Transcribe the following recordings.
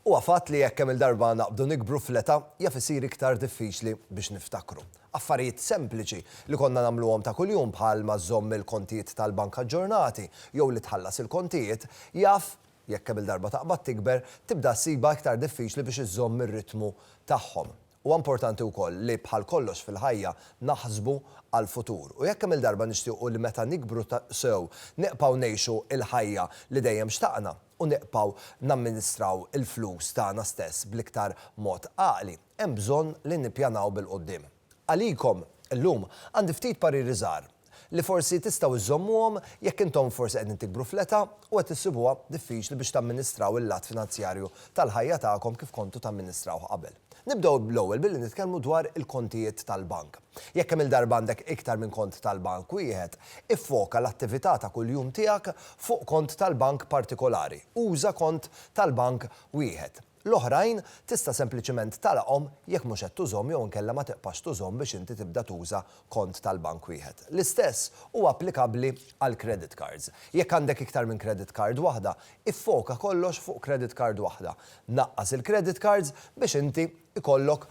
Huwa fatt li jekk kemm-il darba naqbdu nikbru fl-età, jaf isir iktar diffiċli biex niftakru. Affarijiet sempliċi li konna nagħmluhom ta' kuljum bħal ma żżomm il-kontijiet tal-bank aġġornati jew li tħallas il-kontijiet, jaf, jekk kemm-il darba taqbad tikber, tibda ssibha iktar diffiċli biex iżżomm ir-ritmu tagħhom. Huwa importanti wkoll li bħal kollox fil-ħajja naħsbu għall-futur. U jekk kemm-il darba nixtiequ li meta nikbru sew nibqgħu ngħixu l-ħajja li dejjem xtaqna u nibqgħu namministraw il-flus tagħna stess bl-iktar mod għaqli, hemm bżonn li nippjanaw bil-quddiem. Għalikom, illum, għandi ftit pariri żgħar. li forsi tistgħu żżommuhom jekk intom forsi qegħdin tikbru fl-età u qed issibuha diffiċli biex tamministraw il-lat finanzjarju tal-ħajja tagħkom kif kontu tamministrawh qabel. Nibdew bl-ewwel billi nitkellmu dwar il-kontijiet tal-bank. Jekk kemm-il darba għandek iktar minn kont tal-bank wieħed, iffoka l-attività ta' kuljum tiegħek fuq kont tal-bank partikolari. Uża kont tal-bank wieħed. L-oħrajn tista' sempliċiment tagħlaqhom jekk mhux qed tużhom jew inkella ma tiqpax tużhom biex inti tibda tuża kont tal-bank wieħed. L-istess huwa applikabbli għall-credit cards. Jekk għandek iktar minn credit card waħda, iffoka kollox fuq credit card waħda. Naqqas il-credit cards biex inti jkollok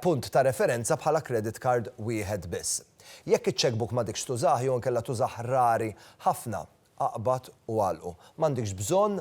punt ta' referenza bħala credit card wieħed biss. Jekk iċ-checkbook m'għadekx tużah jew inkella tużah rari ħafna, Aqbad u għalqu. M'għandikx bżonn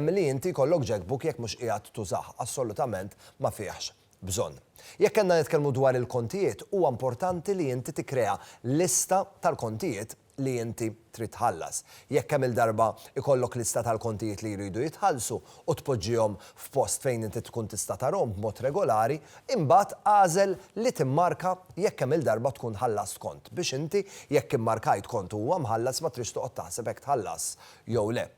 li inti jkollok jackbook jekk mhux qiegħed tużah, assolutament ma fihx bżonn. Jekk għandna nitkellmu dwar il-kontijiet, huwa importanti li inti tikkrea lista tal-kontijiet li inti trid tħallas. Jekk kemm-il darba jkollok lista tal-kontijiet li jridu jitħallsu, u tpoġġihom f'post fejn inti tkun tista' tarahom b'mod regolari, imbagħad agħżel li timmarka jekk kemm-il darba tkun ħallast kont, biex inti, jekk immarkajt kont u huwa mħallas ma trix toqgħod taħseb hekk tħallas jew le.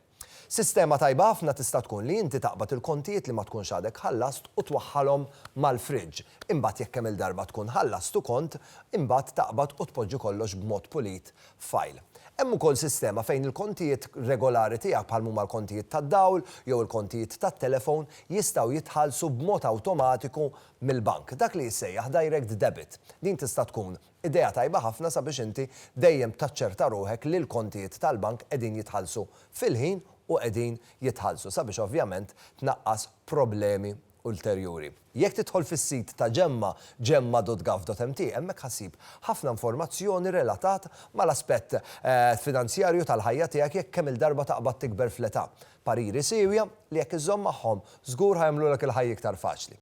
Sistema tajba ħafna tista' tkun li inti taqbad il-kontijiet li ma tkunx għadek ħallast u twaħħalhom mal-fridge, imbagħad jekk kemm-il darba tkun ħallast u kont, imbagħad taqbad u tpoġġi kollox b'mod pulit file. Hemm ukoll sistema fejn il-kontijiet regolari tiegħek bħal m'huma l-kontijiet tad-dawl jew il-kontijiet tat-telefon jistgħu jitħallsu b'mod awtomatiku mill-bank, dak li jissejjaħ direct debit. Din tista' tkun idea tajba ħafna sabiex inti dejjem taċċerta ruħek li l-kontijiet tal-bank qegħdin jitħallsu fil-ħin u qegħdin jitħallsu sabiex ovvjament tnaqqas problemi ulterjuri. Jekk tidħol fis-sit ta' Gemma, gemma.gov.mt, hemmhekk ħa ssib ħafna informazzjoni relatat mal-aspett finanzjarju tal-ħajja tiegħek jekk kemm-il darba taqbad tikber fl-età. Pariri siewja li jekk iżżomm magħhom, żgur ħa jagħmlulek il-ħajja iktar faċli.